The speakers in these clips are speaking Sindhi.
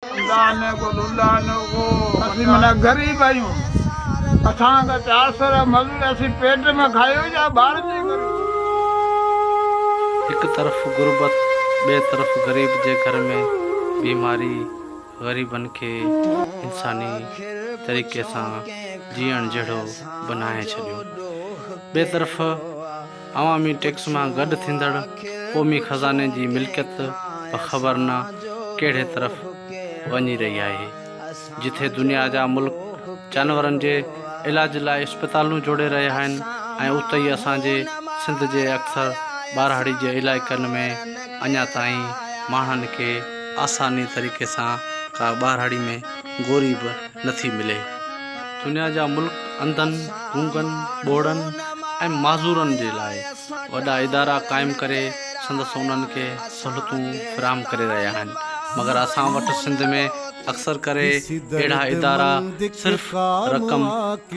الله نه گل الله نه گو اسين معنيٰ غريب آهيون اسان کان چار سو را مزوري اسين پيٽ ۾ کايو يا ٻارن جي ڪري. هڪ طرف غربت ٻئي طرف غريب جي گهر ۾ بيماري غريبن کي انساني طريقي سان جيئڻ جهڙو بنائي ڇڏيو ٻئي طرف عوامي ٽيڪس مان گڏ ٿيندڙ قومي خزاني جي ملڪيت به خبر نه ڪهڙي طرف وڃي رهي آهي. جٿي دنيا جا ملڪ جانورن جي علاج لاء اسپتالون جوڙي رهيا آهن ۽ اتي ئي اسان جي سنڌ جي اڪثر ٻاراڙي جي علائقن ۾ اڃا تائين ماڻهن کي آساني طريقي سان ڪا ٻاراڙي ۾ گوري به نٿي ملي. دنيا جا ملڪ انڌن، گونگن، ٻوڙن ۽ معذورن جي لاء وڏا ادارا قائم ڪري سندس انهن کي سهولتون فراهم ڪري رهيا آهن مگر اسان وٽ سنڌ ۾ اڪثر ڪري اهڙا ادارا صرف رقم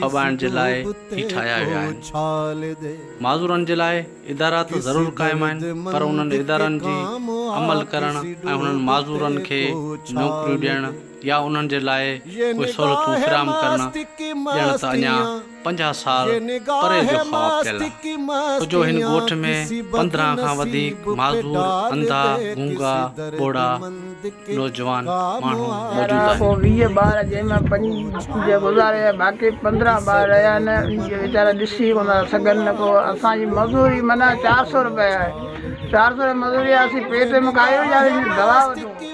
ڦٻائڻ جي لاء ئي ٺاهيا ويا آهن. معذورن جي لاء ادارا ته ضرور قائم آهن پر انهن ادارن جي عمل ڪرڻ ۽ انهن معذورن کي نوڪريون ڏيڻ يا انهن جي لاء ڪوئي سهولتون فراهم ڪرڻ ڄڻ ته اڃا پنجاهه سال پري جو خواب پيل آهي. ڪجو هن ڳوٺ ۾ پندرهن کان وڌيڪ معذور، انڌا، گونگا، ٻوڙا، نوجوان ماڻهو موجود آهن. پوء ويهه ٻار جنهن مان پنج گذاري ويا باقي پندرهن ٻار رهيا آهن انهن کي ويچارا ڏسي ڪونه ٿا سگهن نه ڪو اسان جي مزوري منهن چار سئو روپيه آهي چار سئو روپيه مزوري آهي اسين پيٽ ۾ ڪاهيون يا دوا وٺون.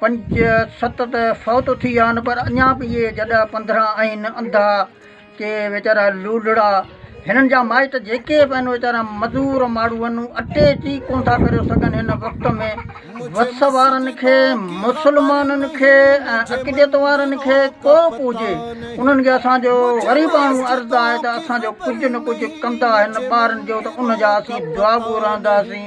پنج ست ته فوت ٿي ويا آهن پر اڃا به اهي جڏا پنڌرا آهن انڌا ڪي ويچارا لولڙا هنن جا مائٽ جيڪي به آهن ويچارا مزور ماڻهو آهن اٽي جي ڪونه ٿا ڪري سگهن هن وقت ۾ وس وارن کي مسلمانن کي ۽ عقيدت وارن کي ڪو به هجي انهن کي اسان جو غريباڻو عرض آهي ته اسان جو ڪجهه نه ڪجهه ڪندا هن ٻارن جو ته ان جا اسين دعا گو رهنداسين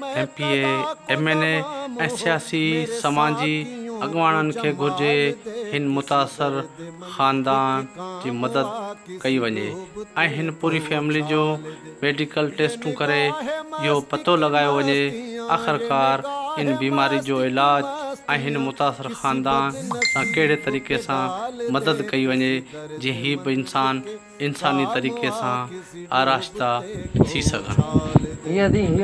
M P A, M N A ۽ سياسي سماجي اڳواڻن کي گهرجي هن متاثر خاندان جي مدد ڪئي وڃي ۽ هن پوري فيملي جون ميڊيڪل ٽيسٽون ڪري اهو پتو لڳايو وڃي آخرڪار ان بيماري جو علاج ۽ هن متاثر خاندان سان ڪهڙي طريقي سان مدد ڪئي وڃي جيئن هي به انسان انساني طريقي سان آراشته ٿي سگهن.